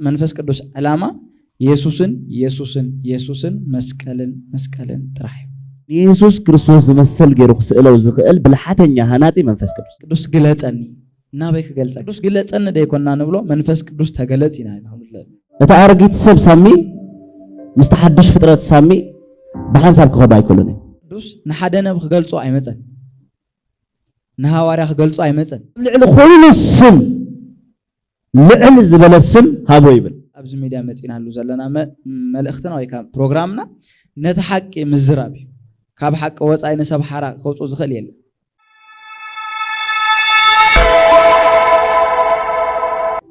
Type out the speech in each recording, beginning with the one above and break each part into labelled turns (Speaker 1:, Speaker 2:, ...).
Speaker 1: መንፈስ ቅዱስ ዕላማ የሱስን የሱስን የሱስን መስቀልን መስቀልን ጥራሕ እዩ። ንየሱስ
Speaker 2: ክርስቶስ ዝመሰል ገይሩ ክስእለው ዝኽእል ብልሓተኛ ሃናጺ መንፈስ ቅዱስ ቅዱስ ግለጸኒ
Speaker 1: ናበይ ክገልጸ ቅዱስ ግለጸኒ ደይኮና ንብሎ መንፈስ ቅዱስ ተገለጽ ኢና እቲ
Speaker 2: ኣረጊት ሰብ ሳሚ ምስቲ ሓድሽ ፍጥረት ሳሚ ብሓንሳብ ክኸዱ ኣይክእሉን እዩ ቅዱስ ንሓደ
Speaker 1: ነብ ክገልጾ ኣይመፀን ንሃዋርያ ክገልጾ ኣይመፀን ኣብ ልዕሊ ኩሉ
Speaker 2: ስም ልዕል ዝበለ ስም ሃቦ ይብል። ኣብዚ ሚድያ መፂእናሉ
Speaker 1: ዘለና መልእኽትና ወይ ከዓ ፕሮግራምና ነቲ ሓቂ ምዝራብ እዩ። ካብ ሓቂ ወፃኢ ንሰብ ሓራ ከውፅኦ ዝኽእል የለን።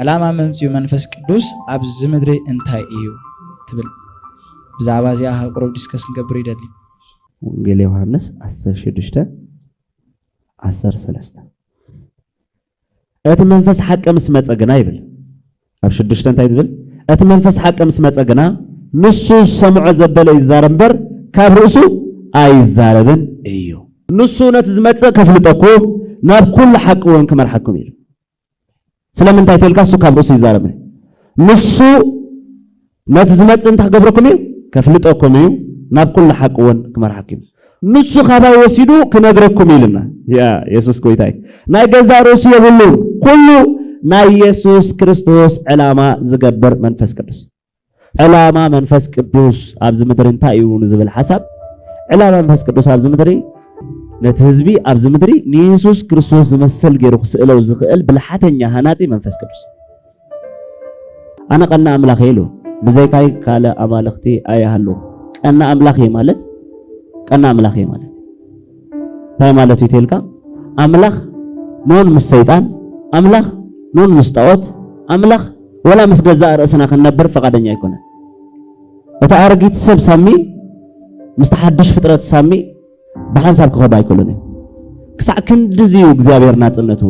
Speaker 1: ዕላማ መምፅኡ መንፈስ ቅዱስ ኣብዚ ምድሪ እንታይ እዩ ትብል? ብዛዕባ እዚኣ ካብ ቅሩብ ዲስከስ ክንገብር ይደሊ። ወንጌል
Speaker 2: ዮሃንስ ዓሰርተ ሽዱሽተ ዓሰርተ ሰለስተ እቲ መንፈስ ሓቂ ምስ መጸ ግና ይብል ኣብ ሽዱሽተ እንታይ ዝብል እቲ መንፈስ ሓቂ ምስ መጸ ግና ንሱ ዝሰምዖ ዘበለ ይዛረብ እምበር ካብ ርእሱ ኣይዛረብን እዩ ንሱ ነቲ ዝመጽእ ከፍልጠኩም ናብ ኩሉ ሓቂ እውን ክመርሓኩም እዩ ስለምንታይ ተልካ እሱ ካብ ርእሱ ይዛረብ ንሱ ነቲ ዝመጽእ እንታይ ክገብረኩም እዩ? ከፍልጠኩም እዩ፣ ናብ ኩሉ ሓቂ እውን ክመርሓኩም እዩ። ንሱ ካባይ ወሲዱ ክነግረኩም እዩ ኢሉና። ያ የሱስ ጎይታ እዩ። ናይ ገዛእ ርእሱ የብሉን። ኩሉ ናይ የሱስ ክርስቶስ ዕላማ ዝገብር መንፈስ ቅዱስ ዕላማ መንፈስ ቅዱስ ኣብዚ ምድሪ እንታይ እዩ ንዝብል ሓሳብ ዕላማ መንፈስ ቅዱስ ኣብዚ ምድሪ ነቲ ህዝቢ ኣብዚ ምድሪ ንየሱስ ክርስቶስ ዝመስል ገይሩ ክስእለው ዝኽእል ብልሓተኛ ሃናፂ መንፈስ ቅዱስ ኣነ ቀና ኣምላኽ እየ ኢሉ ብዘይካይ ካልእ ኣማልኽቲ ኣይሃሉ። ቀና ኣምላኽ እየ ማለት ቀና ኣምላኽ እየ ማለት እንታይ ማለት እዩ ተልካ ኣምላኽ ኖን ምስ ሰይጣን ኣምላኽ ኖን ምስ ጣዖት ኣምላኽ ወላ ምስ ገዛእ ርእስና ክንነብር ፈቃደኛ ኣይኮነ። እታ ኣረጊት ሰብ ሳሚ ምስ ሓድሽ ፍጥረት ሳሚ ብሓንሳብ ክኸዱ ኣይክእሉን እዮም ክሳዕ ክንድዚ እዩ እግዚኣብሔር ናፅነቱ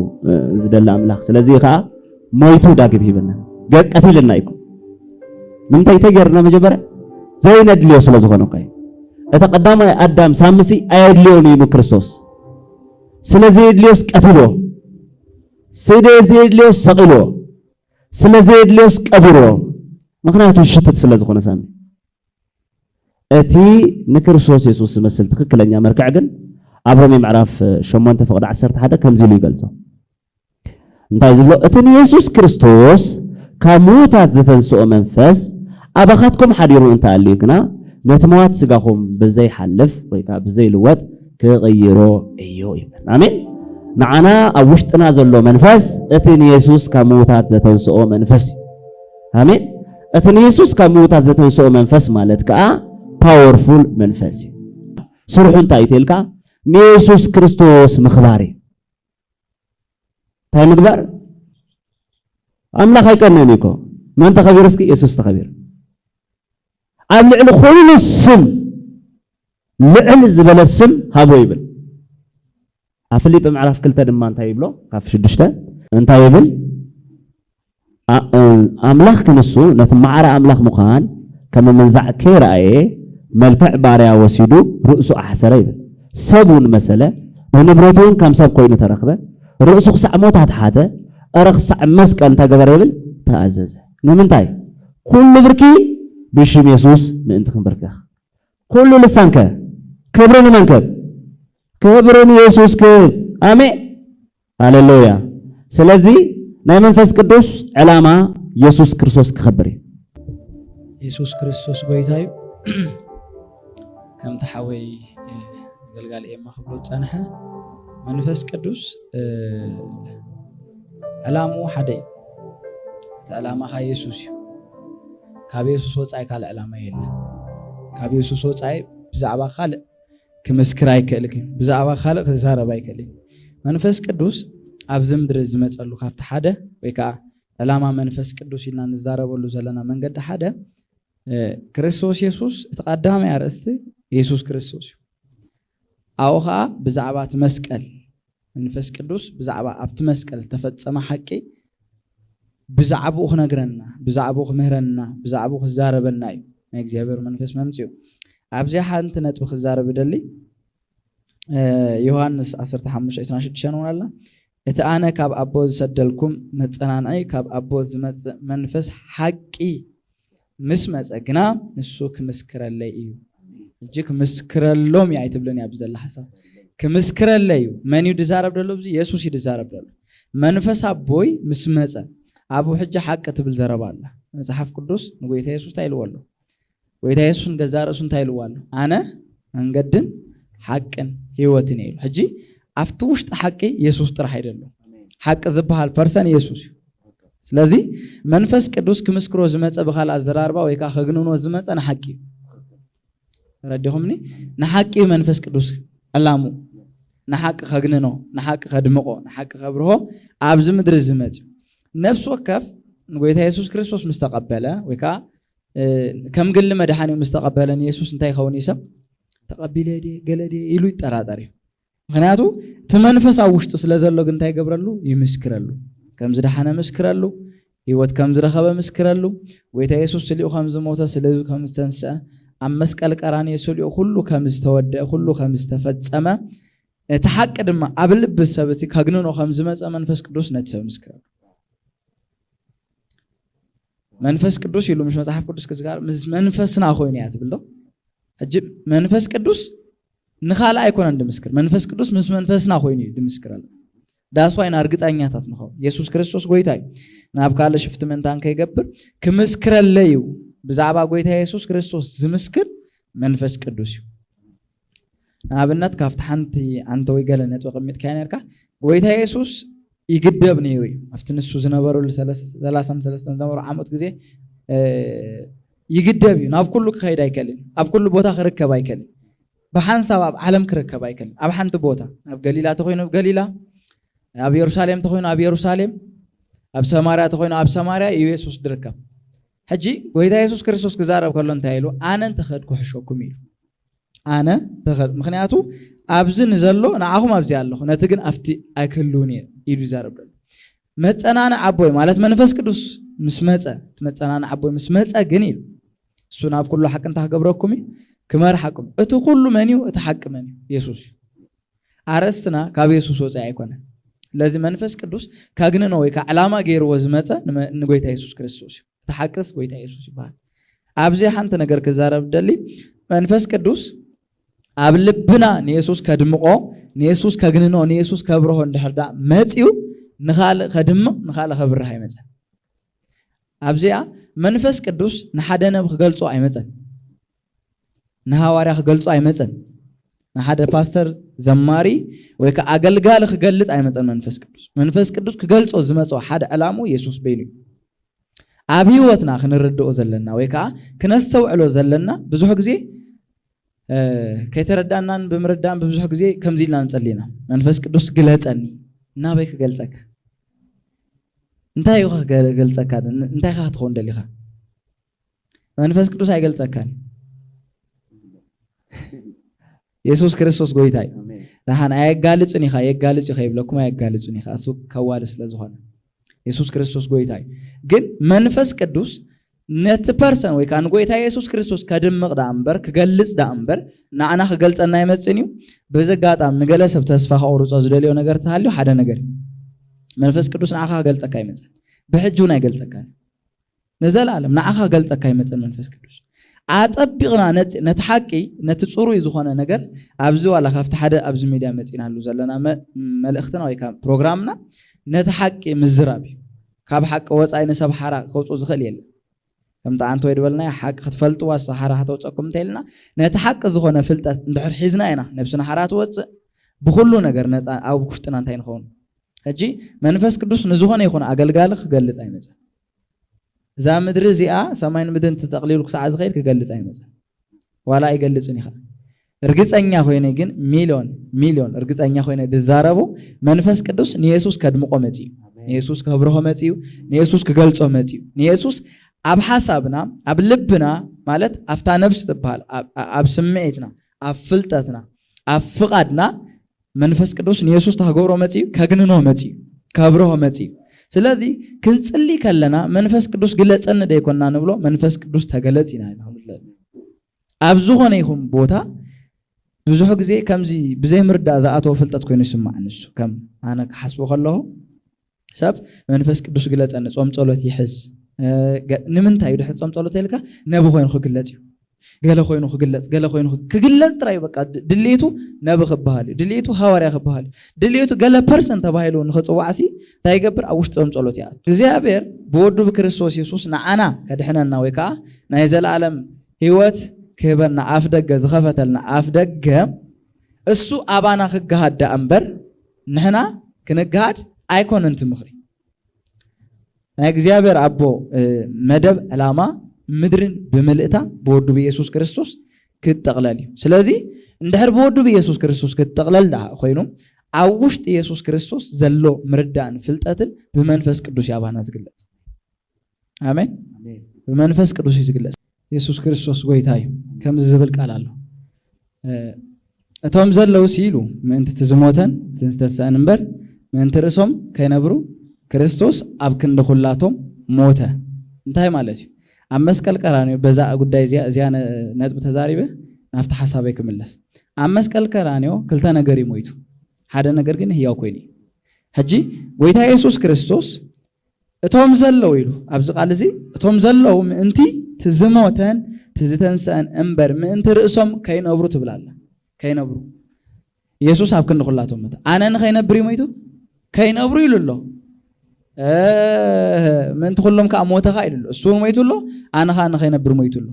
Speaker 2: ዝደሊ ኣምላኽ ስለዚ ከዓ ሞይቱ ዳግም ሂብና ቀቲልና እዩ ንምንታይ እንታይ ገርና መጀመርያ ዘይነድልዮ ስለ ዝኾነ እኳ እቲ ቀዳማይ ኣዳም ሳምሲ ኣየድልዮን እዩ ንክርስቶስ ስለ ዘየድልዮስ ቀትልዎ ስለ ዘየድልዮስ ሰቒልዎ ስለ ዘየድልዮስ ቀቢርዎ ምክንያቱ ሽትት ስለ ዝኾነ ሳሚ እቲ ንክርስቶስ የሱስ ዝመስል ትኽክለኛ መርክዕ ግን ኣብ ሮሜ ምዕራፍ ሸሞንተ ፍቕዲ ዓሰርተ ሓደ ከምዚ ኢሉ ይገልጾ እንታይ ዝብሎ እቲ ንየሱስ ክርስቶስ ካብ ምዉታት ዘተንስኦ መንፈስ ኣባኻትኩም ሓዲሩ እንተኣልዩ ግና ነቲ መዋቲ ስጋኹም ብዘይሓልፍ ወይ ከዓ ብዘይልወጥ ክቕይሮ እዩ ይብል ኣሜን ንዓና ኣብ ውሽጥና ዘሎ መንፈስ እቲ ንየሱስ ካብ ምዉታት ዘተንስኦ መንፈስ እዩ ኣሜን። እቲ ንየሱስ ካብ ምዉታት ዘተንስኦ መንፈስ ማለት ከኣ ፓወርፉል መንፈስ እዩ። ስርሑ እንታይ እዩ ተልካ ንየሱስ ክርስቶስ ምኽባር እዩ። እንታይ ምግባር? ኣምላኽ ኣይቀነን እዩ እኮ መን ተኸቢሩ? እስኪ የሱስ ተኸቢሩ። ኣብ ልዕሊ ኩሉ ስም ልዕል ዝበለ ስም ሃቦ ይብል። ኣብ ፍሊጲ ምዕራፍ ክልተ ድማ እንታይ ይብሎ ካብ ሽዱሽተ እንታይ ይብል ኣምላኽ ክንሱ ነቲ ማዕረ ኣምላኽ ምዃን ከም ምንዛዕ ከይረኣየ መልክዕ ባርያ ወሲዱ ርእሱ ኣሕሰረ ይብል ሰብ እውን መሰለ ብንብረቱ እውን ከም ሰብ ኮይኑ ተረክበ ርእሱ ክሳዕ ሞት ኣትሓተ እረ ክሳዕ መስቀል እንታይ ገበረ ይብል ተኣዘዘ ንምንታይ ኩሉ ብርኪ ብሽም የሱስ ምእንቲ ክንብርከኽ ኩሉ ልሳን ከ ክብሪ ንመን ክህብ? ክብሪ ንየሱስ ክህብ። ኣሜን ሃለሉያ። ስለዚ ናይ መንፈስ ቅዱስ ዕላማ የሱስ ክርስቶስ ክኸብር እዩ። የሱስ
Speaker 1: ክርስቶስ ጎይታ እዩ። ከምቲ ሓወይ ኣገልጋሊ ኤማ ክብሎ ዝፀንሐ መንፈስ ቅዱስ ዕላምኡ ሓደ እዩ። እቲ ዕላማኻ የሱስ እዩ። ካብ የሱስ ወጻኢ ካልእ ዕላማ የለን። ካብ የሱስ ወጻኢ ብዛዕባ ካልእ ክምስክር ኣይክእልክ እዩ። ብዛዕባ ካልእ ክዛረብ ኣይክእል እዩ። መንፈስ ቅዱስ ኣብዚ ምድሪ ዝመጸሉ ካብቲ ሓደ ወይ ከኣ ዕላማ መንፈስ ቅዱስ ኢልና ንዛረበሉ ዘለና መንገዲ ሓደ ክርስቶስ የሱስ እቲ ቀዳማይ ኣርእስቲ የሱስ ክርስቶስ እዩ። ኣብኡ ኸኣ ብዛዕባ እቲ መስቀል፣ መንፈስ ቅዱስ ብዛዕባ ኣብቲ መስቀል ዝተፈጸመ ሓቂ ብዛዕባኡ ክነግረና፣ ብዛዕባኡ ክምህረና፣ ብዛዕባኡ ክዛረበና እዩ ናይ እግዚኣብሔር መንፈስ መምጺኡ። ኣብዚኣ ሓንቲ ነጥቢ ክዛረብ እደሊ። ዮሃንስ ዓሰርተ ሓሙሽተ ዕስራን ሽዱሽተን እውን ኣላ። እቲ ኣነ ካብ ኣቦ ዝሰደልኩም መጸናንዒ ካብ ኣቦ ዝመጽእ መንፈስ ሓቂ ምስ መጸ ግና ንሱ ክምስክረለይ እዩ። እጂ ክምስክረሎም እዩ ኣይትብልን እያ ብዝደላ ሓሳብ ክምስክረለይ እዩ። መን እዩ ድዛረብ ደሎ ብዚ የሱስ እዩ ድዛረብ ደሎ። መንፈስ ኣቦይ ምስ መጸ ኣብ ሕጂ ሓቂ ትብል ዘረባ ኣላ። መጽሓፍ ቅዱስ ንጎይታ የሱስ እንታይ ኢልዎ ኣሎ? ጎይታ የሱስ ንገዛእ ርእሱ እንታይ ኢልዎ ኣሎ? ኣነ መንገድን ሓቅን ህይወትን እየ ኢሉ። ሕጂ ኣብቲ ውሽጢ ሓቂ የሱስ ጥራሕ እዩ ዘሎ። ሓቂ ዝበሃል ፐርሰን የሱስ እዩ። ስለዚ መንፈስ ቅዱስ ክምስክሮ ዝመፀ ብካል ኣዘራርባ ወይ ከዓ ከግንኖ ዝመፀ ንሓቂ እዩ ረዲኹምኒ ንሓቂ እዩ መንፈስ ቅዱስ ዕላሙ ንሓቂ ከግንኖ ንሓቂ ከድምቆ ንሓቂ ከብርሆ ኣብዚ ምድሪ ዝመፅ ነፍሲ ወከፍ ንጎይታ የሱስ ክርስቶስ ምስ ተቐበለ ወይ ከዓ ከም ግሊ መድሓኒ ምስ ተቐበለ ንየሱስ እንታይ ይኸውን እዩ ሰብ ተቐቢለ ድየ ገለ ድየ ኢሉ ይጠራጠር እዩ ምክንያቱ እቲ መንፈስ ኣብ ውሽጡ ስለ ዘሎ ግን እንታይ ገብረሉ ይምስክረሉ ከም ዝደሓነ ምስክረሉ ህይወት ከም ዝረኸበ ምስክረሉ ጎይታ የሱስ ስሊኡ ከም ዝሞተ ስለ ከም ዝተንስአ ኣብ መስቀል ቀራንዮ ስሊኡ ኩሉ ከም ዝተወደአ ኩሉ ከም ዝተፈጸመ እቲ ሓቂ ድማ ኣብ ልቢ ሰብ እቲ ከግንኖ ከም ዝመፀ መንፈስ ቅዱስ ነቲ ሰብ ምስክረሉ መንፈስ ቅዱስ ኢሉ ምስ መጽሓፍ ቅዱስ ክዝጋር ምስ መንፈስና ኮይኑ እያ ትብል ዶ ሕጂ መንፈስ ቅዱስ ንኻልእ ኣይኮነን ድምስክር መንፈስ ቅዱስ ምስ መንፈስና ኮይኑ እዩ ድምስክር ኣሎ ዳስዋይና እርግፀኛታት ንኸው የሱስ ክርስቶስ ጎይታ እዩ ናብ ካልእ ሽፍቲ ምእንታን ከይገብር ክምስክረለይ እዩ ብዛዕባ ጎይታ የሱስ ክርስቶስ ዝምስክር መንፈስ ቅዱስ እዩ ንኣብነት ካብቲ ሓንቲ ዓንተ ወይ ገለ ነጥቢ ቅሚጥካዮ ነርካ ጎይታ የሱስ ይግደብ ነይሩ እዩ ኣብቲ ንሱ ዝነበረሉ ሰላሳን ሰለስተን ዝነበሩ ዓመት ግዜ ይግደብ እዩ ናብ ኩሉ ክኸይድ ኣይከልን ኣብ ኩሉ ቦታ ክርከብ ኣይከልን ብሓንሳብ ኣብ ዓለም ክርከብ ኣይከልን ኣብ ሓንቲ ቦታ ኣብ ገሊላ ተኮይኑ ኣብ ገሊላ ኣብ የሩሳሌም ተኮይኑ ኣብ የሩሳሌም ኣብ ሰማርያ ተኮይኑ ኣብ ሰማርያ እዩ የሱስ ዝርከብ ሕጂ ጎይታ የሱስ ክርስቶስ ክዛረብ ከሎ እንታይ ኢሉ ኣነ እንተኸድኩ ሕሸኩም ኢሉ ኣነ ተኸል ምክንያቱ ኣብዚ ንዘሎ ንዓኹም ኣብዚ ኣለኹ ነቲ ግን ኣብቲ ኣይክህልውን እየ ኢሉ ይዛረብ ደሎ መፀናንዕ ኣቦይ ማለት መንፈስ ቅዱስ ምስ መፀ እቲ መፀናንዕ ኣቦይ ምስ መፀ ግን ኢሉ እሱ ናብ ኩሉ ሓቂ እንታይ ክገብረኩም እዩ ክመርሓኩም እቲ ኩሉ መን እዩ እቲ ሓቂ መን እዩ የሱስ እዩ ኣርእስትና ካብ የሱስ ወጻኢ ኣይኮነን። ስለዚ መንፈስ ቅዱስ ከግንኖ ወይ ከዓ ዕላማ ገይርዎ ዝመፀ ንጎይታ የሱስ ክርስቶስ እዩ። እቲ ሓቅስ ጎይታ የሱስ ይበሃል። ኣብዚ ሓንቲ ነገር ክዛረብ ደሊ መንፈስ ቅዱስ ኣብ ልብና ንየሱስ ከድምቆ ንየሱስ ከግንኖ ንየሱስ ከብርሆ እንድሕር ዳ መፅዩ ንኻልእ ከድምቕ ንኻልእ ከብርህ ኣይመፀን። ኣብዚኣ መንፈስ ቅዱስ ንሓደ ነብ ክገልፆ ኣይመፀን። ንሃዋርያ ክገልጾ ኣይመጸን። ንሓደ ፓስተር ዘማሪ ወይ ከዓ ኣገልጋሊ ክገልጽ ኣይመጸን መንፈስ ቅዱስ። መንፈስ ቅዱስ ክገልጾ ዝመጾ ሓደ ዕላሙ የሱስ በይኑ እዩ። ኣብ ህይወትና ክንርድኦ ዘለና ወይ ከዓ ክነስተውዕሎ ዘለና ብዙሕ ግዜ ከይተረዳናን ብምርዳን ብብዙሕ ግዜ ከምዚ ኢልና ንጸሊ ኢና መንፈስ ቅዱስ ግለጸኒ እናበይ ክገልጸካ እንታይ ኢኻ ክገልጸካ እንታይ ኢኻ ክትኸውን ደሊኻ መንፈስ ቅዱስ ኣይገልጸካን የሱስ ክርስቶስ ጎይታ እዩ ንሓን ኣየጋልፅን ኢኻ የጋልፅ ኢኻ ይብለኩም ኣየጋልፅን ኢኻ እሱ ከዋል ስለ ዝኾነ የሱስ ክርስቶስ ጎይታ እዩ ግን መንፈስ ቅዱስ ነቲ ፐርሰን ወይ ከዓ ንጎይታ የሱስ ክርስቶስ ከድምቕ ዳኣ እምበር ክገልፅ ዳኣ እምበር ንዓና ክገልፀና ይመፅን እዩ በዚ ኣጋጣሚ ንገለ ሰብ ተስፋ ከቑርፆ ዝደልዮ ነገር ተሃልዩ ሓደ ነገር እዩ መንፈስ ቅዱስ ንዓኻ ክገልፀካ ይመፅን ብሕጂ እውን ኣይገልፀካን ንዘለኣለም ንዓኻ ክገልጸካ ይመጸን መንፈስ ቅዱስ። ኣጠቢቕና ነቲ ነቲ ሓቂ ነቲ ጽሩይ ዝኾነ ነገር ኣብዚ ዋላ ካብቲ ሓደ ኣብዚ ሚድያ መጺእናሉ ዘለና መልእኽትና ወይ ከኣ ፕሮግራምና ነቲ ሓቂ ምዝራብ እዩ። ካብ ሓቂ ወጻኢ ንሰብ ሓራ ከውጽኦ ዝኽእል የለን። ከምቲ ኣንቲ ወይ ዝበልናዮ ሓቂ ክትፈልጥዋስ ሓራ ከተውጸኩም እንተኢልና ነቲ ሓቂ ዝኾነ ፍልጠት እንድሕር ሒዝና ኢና ነብስና ሓራ ትወጽእ ብኹሉ ነገር ነጻ ኣብ ውሽጥና እንታይ ንኸውን ሕጂ መንፈስ ቅዱስ ንዝኾነ ይኹን ኣገልጋሊ ክገልጽ ኣይመጸን። እዛ ምድሪ እዚኣ ሰማይን ምድርን ተጠቕሊሉ ክሳዕ ዝኸይድ ክገልጽ ኣይመጽን ዋላ ኣይገልጽን እዩ ኸኣ እርግጸኛ ኮይነ ግን ሚልዮን ሚልዮን እርግጸኛ ኮይነ ድዛረቦ መንፈስ ቅዱስ ንየሱስ ከድምቆ መጺኡ ንየሱስ ከብርሆ መጺኡ ንየሱስ ክገልጾ መጺኡ ንየሱስ ኣብ ሓሳብና ኣብ ልብና ማለት ኣብታ ነብሲ ትበሃል ኣብ ስምዒትና ኣብ ፍልጠትና ኣብ ፍቓድና መንፈስ ቅዱስ ንየሱስ እንታይ ክገብሮ መጺኡ? ከግንኖ መጺኡ፣ ከብርሆ መጺኡ። ስለዚ ክንጽሊ ከለና መንፈስ ቅዱስ ግለጸኒ ደይኮና ንብሎ፣ መንፈስ ቅዱስ ተገለጽ ኢና ኢና ንብሎ። ኣብ ዝኾነ ይኹን ቦታ ብዙሕ ግዜ ከምዚ ብዘይምርዳእ ዝኣተወ ፍልጠት ኮይኑ ይስማዕ ንሱ ከም ኣነ ክሓስቦ ከለኹ ሰብ መንፈስ ቅዱስ ግለጸኒ ጾም ጸሎት ይሕዝ ንምንታይ ድሕሪ ጾም ጸሎት ኢልካ ነቢ ኮይኑ ክግለጽ እዩ ገለ ኮይኑ ክግለጽ ገለ ኮይኑ ክግለጽ ጥራይ በቃ ድሌቱ ነቢ ክበሃል እዩ ድሌቱ ሃዋርያ ክበሃል እዩ ድሌቱ ገለ ፐርሰን ተባሂሉ ንክጽዋዕሲ እንታይ ይገብር ኣብ ውሽጢ ጾም ጸሎት ይኣቱ እግዚኣብሔር ብወዱ ብክርስቶስ የሱስ ንዓና ከድሕነና ወይ ከዓ ናይ ዘለኣለም ህይወት ክህበና ኣፍ ደገ ዝኸፈተልና ኣፍ ደገ እሱ ኣባና ክገሃዳ እምበር ንሕና ክነግሃድ ኣይኮነን እቲ ምኽሪ ናይ እግዚኣብሔር ኣቦ መደብ ዕላማ ምድርን ብምልእታ ብወዱ ብኢየሱስ ክርስቶስ ክትጠቕለል እዩ ስለዚ እንድሕር ብወዱ ብኢየሱስ ክርስቶስ ክትጠቕለል ድኣ ኮይኑ ኣብ ውሽጢ ኢየሱስ ክርስቶስ ዘሎ ምርዳእን ፍልጠትን ብመንፈስ ቅዱስ ያባና ዝግለጽ ኣሜን። ብመንፈስ ቅዱስ እዩ ዝግለጽ። የሱስ ክርስቶስ ጎይታ እዩ። ከምዚ ዝብል ቃል ኣሎ እቶም ዘለውስ ኢሉ ምእንቲ እቲ ዝሞተን እቲ ዝተሰአን እምበር ምእንቲ ርእሶም ከይነብሩ ክርስቶስ ኣብ ክንዲ ኩላቶም ሞተ እንታይ ማለት እዩ ኣብ መስቀል ቀራንዮ በዛ ጉዳይ እዚኣ እዚኣ ነጥቢ ተዛሪበ ናብቲ ሓሳበይ ክምለስ ኣብ መስቀል ቀራንዮ ክልተ ነገር እዩ ሞይቱ ሓደ ነገር ግን ህያው ኮይኑ እዩ ሕጂ ጎይታ የሱስ ክርስቶስ እቶም ዘለዉ ኢሉ ኣብዚ ቃል እዚ እቶም ዘለዉ ምእንቲ እቲ ዝሞተን እቲ ዝተንሰኣን እምበር ምእንቲ ርእሶም ከይነብሩ ትብል ኣላ። ከይነብሩ ኢየሱስ ኣብ ክንዲ ኩላቶም ሞተ። ኣነ ንኸይነብር እዩ ሞይቱ ከይነብሩ ኢሉ ኣሎ። ምእንቲ ኩሎም ከዓ ሞተ ከዓ ኢሉ ኣሎ። እሱ እውን ሞይቱ ኣሎ፣ ኣነ ከዓ ንኸይነብር ሞይቱ ኣሎ።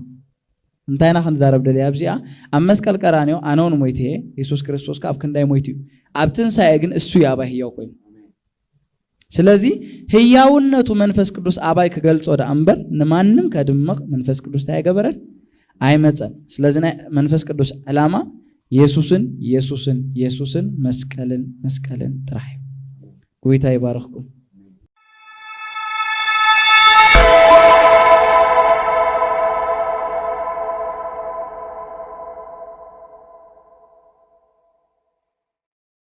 Speaker 1: እንታይ ኢና ክንዛረብ ደልየ ኣብዚኣ? ኣብ መስቀል ቀራንዮ ኣነ እውን ሞይተ እየ፣ ኢየሱስ ክርስቶስ ከዓ ኣብ ክንዳይ ሞይቱ እዩ። ኣብ ትንሳኤ ግን እሱ እዩ ኣባይ ህያው ኮይኑ። ስለዚ ህያውነቱ መንፈስ ቅዱስ ኣባይ ክገልጾ ደኣ እምበር ንማንም ከድምቕ መንፈስ ቅዱስ እንታይ ኣይገበረን ኣይመጸን። ስለዚ ናይ መንፈስ ቅዱስ ዕላማ የሱስን የሱስን የሱስን መስቀልን መስቀልን ጥራሕ እዩ። ጎይታ ይባርኽኩም።